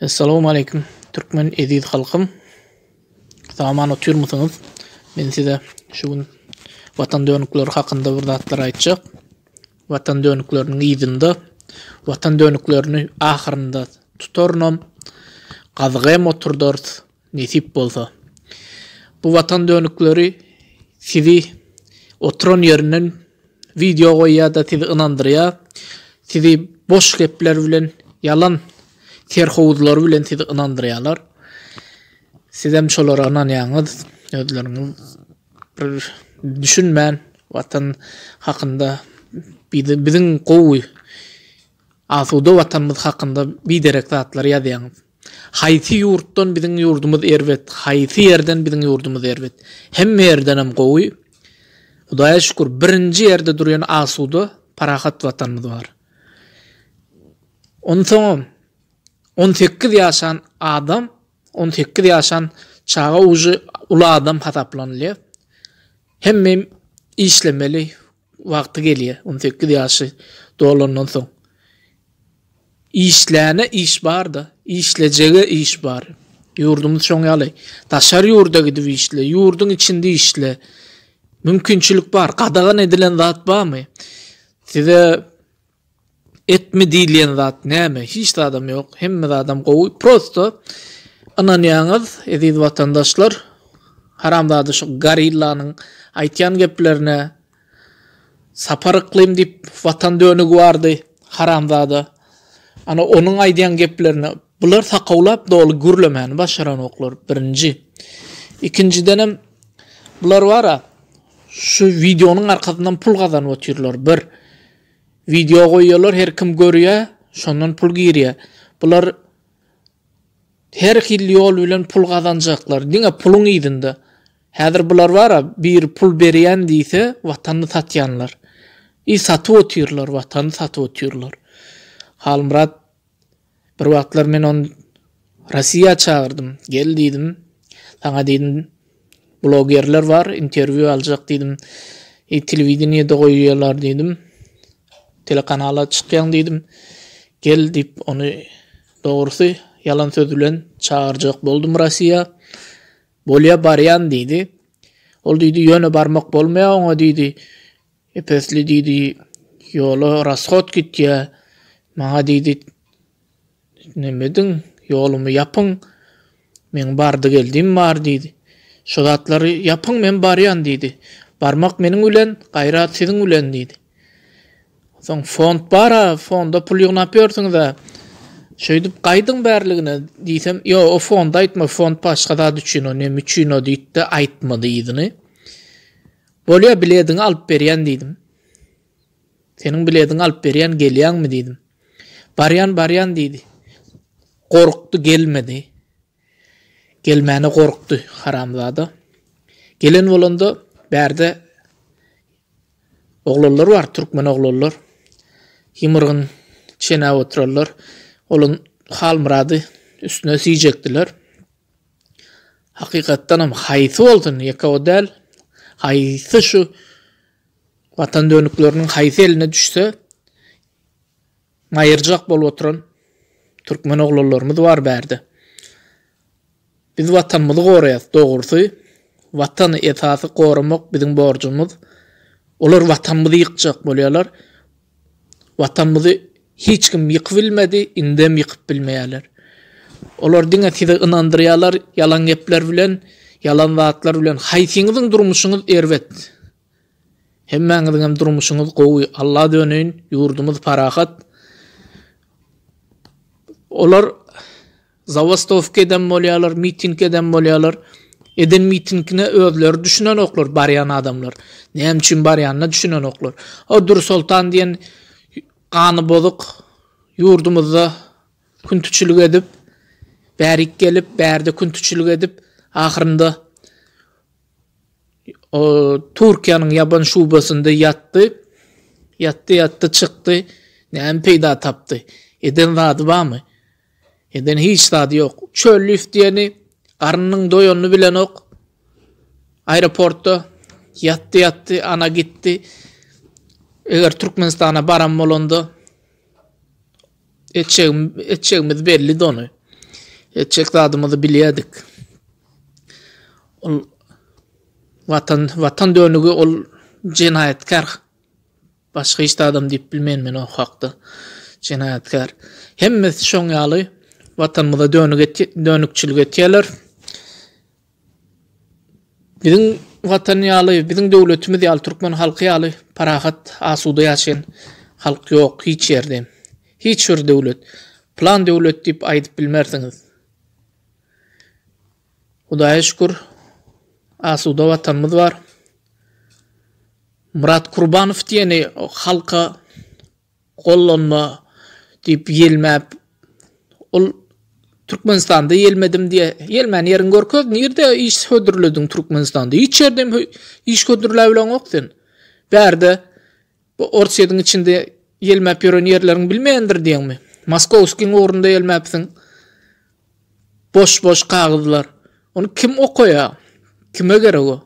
Essalawmaleýkum Türkmen eziz halkym Saman otyrmysyňyz Men size şu gün Watan dönükleri hakynda bir zatlar aýtjak Watan dönükleriniň yzynda Watan dönüklerini ahyrynda tutarynam gazyk hem oturdars Nesip bolsa. Bu watan dönükleri sizi oturan ýerinden wideo goýýada sizi ynandyrýa. Sizi boş gepler bilen ýalan serhowuzlary bilen sizi ynandyrýalar. Sizem şolara ynanýaňyz. Özleriňiz bir düşünmän watan hakynda biziň gowy Asuda watanymyz hakynda biderek zatlary ýazýaňyz. Haýsy ýurtdan biziň ýurdumyz erbet, haýsy ýerden biziň ýurdumyz erbet. Hemme ýerdenem gowy. Hudaýa şükür birinji ýerde durýan asuda, parahat watanymyz bar. Onsoňam on sekiz ýaşan adam, on sekiz ýaşan çaga uje uly adam hasaplanylýar. Hemem işlemeli, Wagty gelýär, on sekiz ýaşy dolandan soň. Işläne iş bar-da, işlejege iş bar. Ýurdumyz şoň ýaly. Daşary ýurda gidip işle, ýurduň içinde işle. Mümkinçilik bar. Gadagan edilen zat barmy? Size Etme diýilýän zat näme? Hiç zadam ýok. Hemme zadam gowy. Prosto ynanýaňyz, eziz watandaşlar. Haramzada şu gorillanyň aýtýan geplerine. Sapar Yklym diýip watan dönügi bardy. Haramzada. Ana onuň aýdýan geplerine. Bular sakawlap doly gürlemäni başaranoklar. Birinji. Ikinjidenem bular bar-a, şu wideonyň arkasyndan pul gazanyp otyrlar. Bir. Wideo goýýarlar her kim görýä şondan pul girýä bular her hil ýol bilen pul gazanjaklar diňe puluň yzynda häzir bular bara biri pul berýän diýse watanyny satýanlar i satyp otyrlar watany satyp otyrlar Halmyrat Bir wagtlar men ony Rossiýa çagyrdym. Gel diýdim. Saňa diýdim, blogerler bar, interwýu aljak diýdim. Eý, telewideniýede goýýarlar diýdim. Telekanala çykýaň diýdim. Gel diýip, ony dogrusy ýalan söz bilen çagyrjak boldum Rossiýa. Bolýa, barýan diýdi. Ol diýdi, ýöne barmak bolmaýar oňa diýdi. Epesli diýdi, Ýola rashod gitýä. Maňa diýdi, Neme ediň, ýolumy ýapyň. Meň bardy-geldim bar diýdi. Şo zatlary ýapyň, men barýan diýdi. Barmak meniň bilen, gaýrat siziň bilen diýdi. Soň fond bar-a, fonda pul ýygnap ýörsüňiz-ä. Şeýdip gaýdyň bärligine diýsem, Ýo, o fonda aýtma, fond başga zat üçin, o neme üçin o diýdi-de, aýtmady yzyny. Bolýa bilediňi alyp berýän diýdim. Seniň bilediňi alyp berýän gelýäňmi diýdim. Barýan barýan diýdi. Gorkdy gelmedi. Gelmäne gorkdy haramzada. Gelen bolanda bärde oglanlar bar, türkmen oglanlar. Ýymyrgyn çenäp oturanlar. Olun Halmyrady üstüne süýjekdiler. Hakykatdanam haýsy bolsun, ýeke-o däl, haýsy şu Watan dönükleriniň haýsy eline düşse, maýyrjak bolup oturan türkmen oglanlarymyz bar bärde. Biz Watanymyzy goraýas, dogrusy, Watany esasy goramak biziň borjumyz. Olar Watanymyzy ýykjak bolýarlar. Watanymyzy hiç kim ýykyp bilmedi, indem ýykyp bilmeýärler. Olar diňe sizi ynandyrýarlar ýalan gepler bilen, ýalan zatlar bilen. Haýsyňyzyň durmuşyňyz erbet? Hemmäňiziňem durmuşyňyz gowy, Alla döneýin, ýurdumyz parahat. Olar Zawostowka edem bolýalar miting edem bolýalar eden mitingine özleri düşünenoklar barýan adamlar näme üçin barýanyna düşünenoklar o Dürsoltan diýen gany bozuk ýurdumyzda küntüçilik edip bärik gelip bärde küntüçilik edip ahyrynda o Türkiýäniň ýaban şubasynda ýatdy ýatdy ýatdy çykdy näme peýda tapdy eden zady barmy. Eden hiç zady ýok. Çöl lif diýeni garnynyň doýanyny bilenok. Aeroportda ýatdy ýatdy, ana gitdi. Eger Türkmenistana baran bolanda etjegim etjegimiz belli dony. Etjek zadymyzy bilýärdik. Ol watan watan dönügi ol jenaýatkar Başga hiç zadam diýip bilmen men o hakda. Jenaýatkär. Hemmesi şoň ýaly watanymyza dönükçilik etýäler. Biziň watan ýaly, biziň döwletimiz ýaly, türkmen halky ýaly parahat, asuda ýaşaýan halk ýok hiç ýerde. Hiç bir döwlet. Plan döwlet diýip aýdyp bilmersiňiz. Hudaýa şükür, asuda Watanymyz bar. Myrat Kurbanow diýeni halka gollanma diýip ýelmäp, ol Türkmenistanda ýelmedim diýe, ýelmän ýeriňi görkez, nirde iş hödürlediň Türkmenistanda? Hiç ýerde hem iş hödürläbileňok sen. Bärde Bu Orsýetiň içinde ýelmäp ýören ýerleriň bilmändir diýeňmi? Moskowskiň ugrunda ýelmäpsiň. Boş-boş kagyzlar. Ony kim okaýar? Kime gerek o?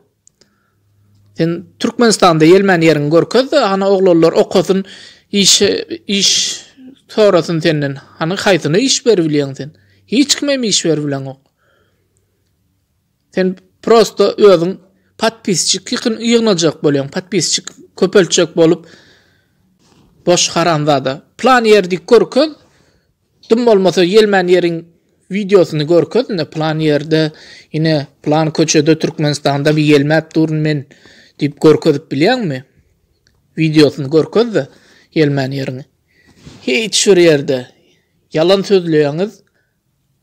Sen Türkmenistanda ýelmän ýeriňi görkez-de, hany oglanlar okasyn, iş iş sorasyn senden. Hany haýsyna iş beribilýäň sen? Hiç kimem iş beribileňok. Sen prosto özüň podpisçik ýykyn ýygnajak bolýaň podpisçik köpeltjek bolup boş haramzada plan ýerdi görkez dym bolmasa ýelmän ýeriň wideosyny görkez ine plan ýerde ine plan köçede türkmenistanda bir ýelmäp durun men diýip görkezip bilýäňmi wideosyny görkezde ýelmän ýeriňi hiç bir ýerde ýalan sözleýäňiz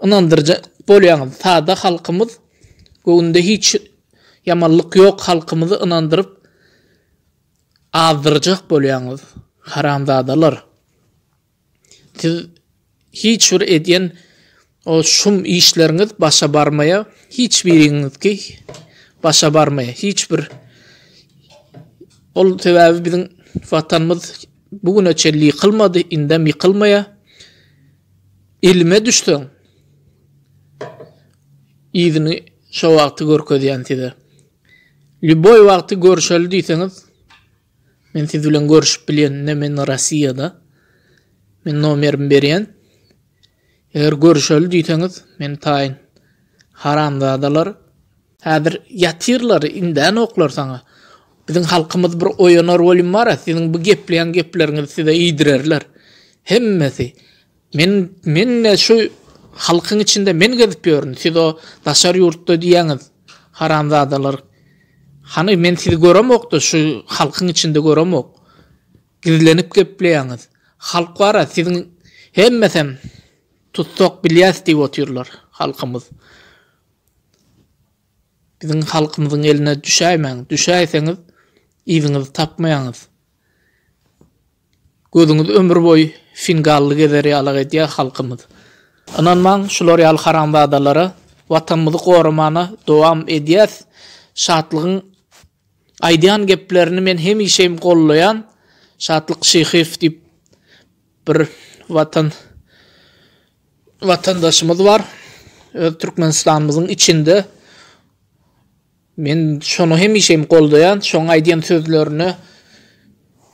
Ynandyryjy bolýaňyz sada halkymyz göwnde hiç ýamanlyk ýok halkymyzy ynandyryp azdyrjak bolýaňyz haramzadalar siz hiç bir edýän o şum işleriňiz başa barmaýa hiç biriňiznki başa barmaýa hiç bir ol sebäbi biziň watanymyz bu güne çenli ýykylmady indem ýykylmaýa. Ilime düşseň, yzyny şo wagty görkezýän size. Lýuboý wagty görüşeli diýseňiz, men siz bilen görüşip bilýän, ine men Rossiýada. Men nomerimi berýän. Eger görüşeli diýseňiz, men taýyn. Haramzadalar. Häzir ýatyrlar indän oklar saňa. Biziň halkymyz bir oýanar welin bara siziň bu gepleýän gepleriňizi size iýdirerler. Hemmesi Men men-de şu halkyň içinde men gezip ýörün siz o daşary ýurtda diýýäňiz haramzadalar. Hany men sizi göremok-da şu halkyň içinde göremok. Gizlenip gepleýäňiz. Halk bara siziň hemmesem tussag bilýäs diýip otyrlar halkymyz. Biziň halkymyzyň eline düşäýmäň, düşäýseňiz, yzyňyzy tapmaýaňyz. Gözüňiz ömür boýy fingally gezer ýalak edýär halkymyz. Ynanmaň şular ýaly haramzadalara, Watanymyzy goramana dowam edýäs. Şatlygyň aýdýan geplerini men hemişem gollaýan. Şatlyk Şyhyýew diýip bir Watan watandaşymyz bar. Öz Türkmenistanymyzyň içinde. Men şony hemişe hem goldaýan, şoň aýdýan sözlerine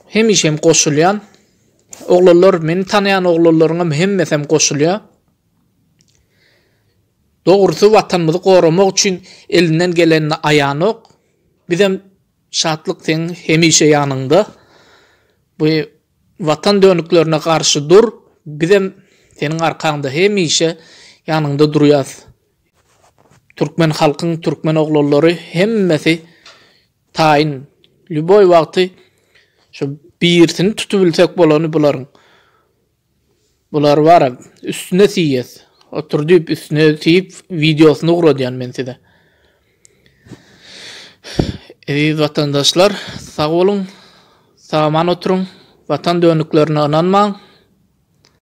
hemişe hem goşulýan. Oglanlar, meni tanýan oglanlaryň hem hemmesi hem goşulýar. Dogrusy watanymyzy goramak üçin elinden gelenini aýanok. Bizem Şatlyk seň hemişe ýanyňda. Bu watan dönüklerine garşy dur bizem seniň arkaňda hemişe ýanyňda durýas Türkmen halkyň Türkmen oglanlary hemmesi taýyn lýuboý wagty şu birisini tutubilsek bolany bularyň. Bular bar üstüne siýes otur diýip üstüne siýip wideosyny ugradýan men size. Eziz watandaşlar sag boluň sagaman oturyň watan döniklerine ynanmaň.